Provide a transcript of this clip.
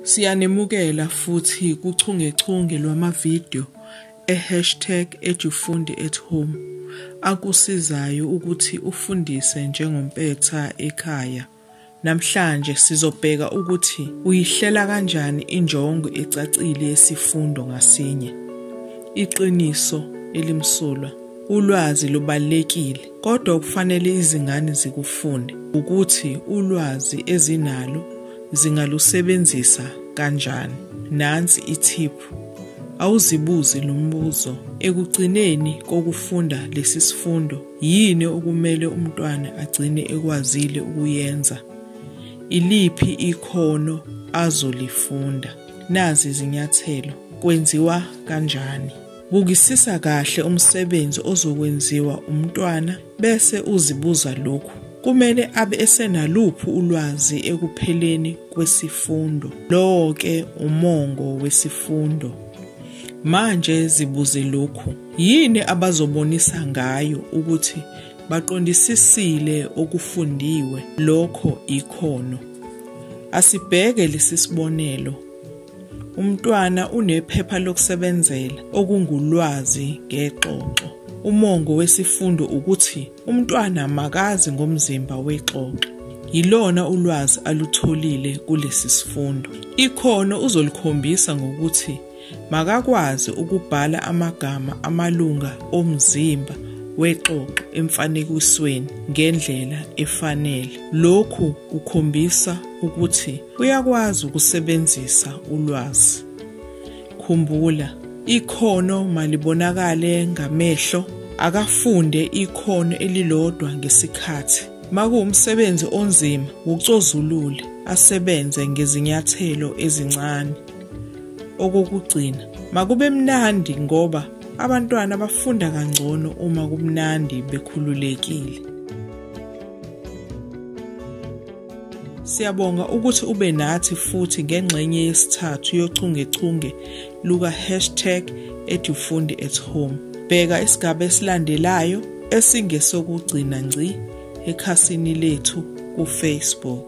Siyanimukela futhi kuchungechunge lwamavidiyo e-hashtag edufundi at home akusizayo ukuthi ufundise njengompetha ekhaya. Namhlanje sizobheka ukuthi uyihlela kanjani injongo ecacile yesifundo ngasinye. Iqiniso elimsulwa, ulwazi lubalulekile. Kodwa okufanele izingane zikufunde ukuthi ulwazi ezinalo zingalusebenzisa kanjani. Nansi ithiphu. Awuzibuzi lo mbuzo. Ekugcineni kokufunda lesi sifundo, yini okumele umntwana agcine ekwazile ukuyenza? Iliphi ikhono azolifunda? Nazi izinyathelo. Kwenziwa kanjani? Bukisisa kahle umsebenzi ozokwenziwa umntwana bese uzibuza lokhu. Kumele abe esenaluphi ulwazi ekupheleni kwesifundo. Lowo ke umongo wesifundo. Manje zibuze lokhu. Yini abazobonisa ngayo ukuthi baqondisisile okufundiwe lokho ikhono. Asibheke lesi sibonelo. Umntwana unephepha lokusebenzela okungulwazi ngexoxo. Umongo wesifundo ukuthi umntwana makazi ngomzimba wexoxo. Yilona ulwazi alutholile kulesi sifundo. Ikhono uzolikhombisa ngokuthi makakwazi ukubhala amagama amalunga omzimba wexoxo emfanekisweni ngendlela efanele. Lokhu kukhombisa ukuthi uyakwazi ukusebenzisa ulwazi. Khumbula, ikhono malibonakale ngamehlo, akafunde ikhono elilodwa ngesikhathi. Makuwumsebenzi onzima, wucozulule, asebenze ngezinyathelo ezincane. Okokugcina, makube mnandi ngoba abantwana bafunda kangcono uma kumnandi bekhululekile. Siyabonga ukuthi ube nathi futhi ngengxenye yesithathu yochungechunge luka hashtag edufundi at home. Bheka isigaba esilandelayo esingesokugcina ngci ekhasini lethu kufacebook.